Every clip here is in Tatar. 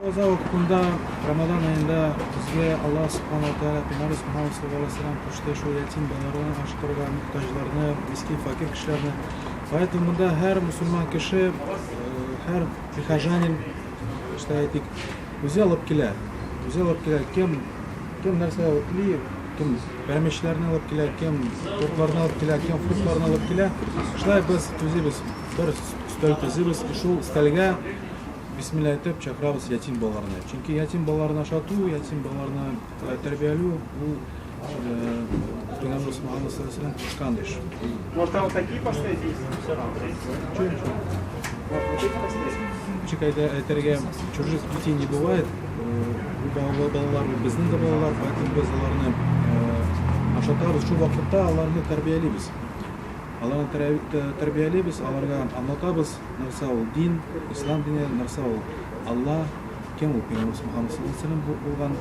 Роза вакытында, Рамадан аенда безгә Аллаһ Субхану Тәгалә Пәйгамбәр Мөхәммәд саллаллаһу алейһи вәсәлләм кушты шул ятим балаларны ашкырырга, мохтаҗларны, мискин факир кешеләрне. Поэтому монда һәр мусульман кеше, э, һәр прихожанин, işte әйтик, үзе алып килә. Үзе алып килә. Кем кем нәрсә алып кили, кем пәрәмәчләрне алып килә, кем тортларны алып килә, кем фруктларны алып килә. Шулай без төзибез, бер өстәл төзибез, шул өстәлгә Бисмилла әйтеп чакырабыз ятим балаларны. Чөнки ятим балаларын ашату, ятим балаларны э, тәрбияләү бу Пәйгамбер Мөхәммәд саллаллаху кушкан эш. Может, вот такие поставить? Ничек әйтергә, чужих детей не бывает. Бу балалар безнең дә балалар, поэтому без аларны ашатабыз, шул вакытта аларны тәрбиялибез. Аларны тәрбиялибез, аларга аңлатабыз. Нәрсә ул дин, ислам дине, нәрсә ул Алла, кем ул пәйгамбәр Мөхәммәд саллаллаһу галәйһи ва сәлләм булган.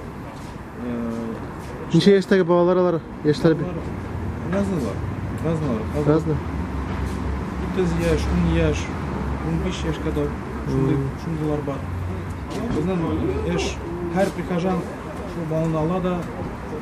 Ничә яшьтәге балалар алар? Яшьләре бик разныйлар. Разныйлар. Разный. 9 яшь, 10 яшь, 15 яшь кадәр шундый шундыйлар бар. Безнең эш һәр прихожан шул баланы ала да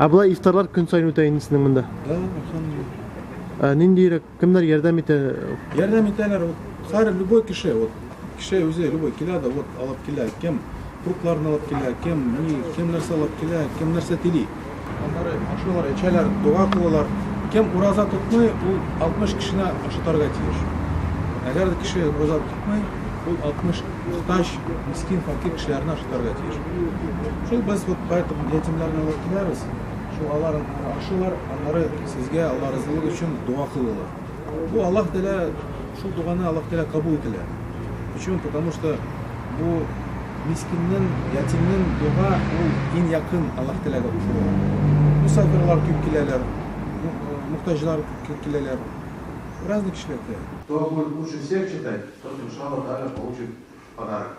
Ә болай ифтарлар көн саен үтә инде сезнең монда? Да, ошондый. Ниндирәк, кемнәр ярдәм итә? Ярдәм итәләр, вот, һәр любой кеше, вот, кеше үзе любой килә дә, вот, алып килә, кем фруктларын алып килә, кем ни, кем нәрсә алып килә, кем нәрсә тили. Аннары ашыйлар, эчәләр, дога кылалар. Кем ураза тотмый, ул 60 кешене ашатарга тиеш. Әгәр дә кеше ураза тотмый, ул 60 мохтаҗ, мискин, факир кешеләрне ашатарга тиеш. Шул без вот поэтому ятимнәрне алып киләбез, шул алар ашыйлар, аннары сезгә Алла разылыгы өчен дуга кылалар. Бу Аллаһ Тәгалә шул дуганы Аллаһ Тәгалә кабул ителә. Почему? Потому что бу мискиннен, ятимнен дуга ул иң якын Аллаһ Тәгаләгә кушыла. Мусафирлар күп киләләр, мухтаҗлар күп киләләр. Разный кешеләр килә. Кто будет лучше всех читать, тот иншаллаһ тааля получит подарок.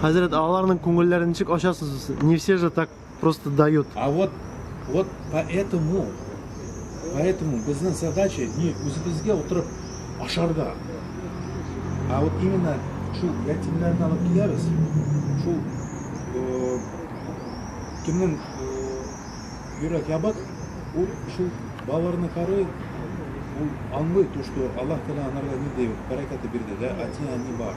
Хәзрәт, ә аларның күңелләрен ничек ачасыз сез? Не все же так просто дают. А вот, вот поэтому, поэтому безнең задача не үзебезгә утырып ашарга, а вот именно шул ятимнәрне алып киләбез, шул э, кемнең э, йөрәк ябык, ул шул балаларны карый, ул аңлый то, что Аллаһ Тәгалә аларга ниндәй бәрәкәте бирде, да, әти-әни бар.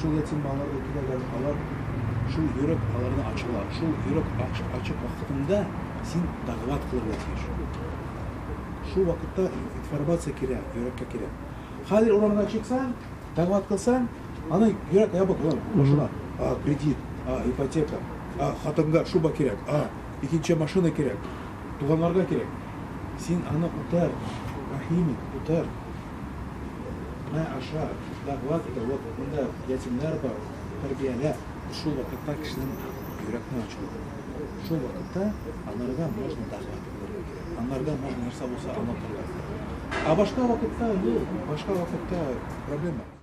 Шул ятим балаларга киләләр, алар шул йөрәк аларны ачалар. Шул йөрәк ачык вакытында син дәгъват кылырга тиеш. Шул вакытта информация керә, йөрәккә керә. Хәзер урамга чыксаң, дәгъват кылсаң, аны йөрәк ябык була, ачыла. А, кредит, а, ипотека, а, хатынга шуба кирәк, а, икенче машина кирәк, туганнарга кирәк. Син аны күтәр, рәхим ит, күтәр. Мә, аша, дәгъват итә, вот монда ятимнәр бар, тәрбиялә. Шул вакытта кешенең йөрәкне ачуы килә. Шул вакытта аларга можно дәгъват итәргә кирәк. Анларга можно нәрсә булса аңлатырга кирәк. Ә башка вакытта, юк, башка вакытта проблема.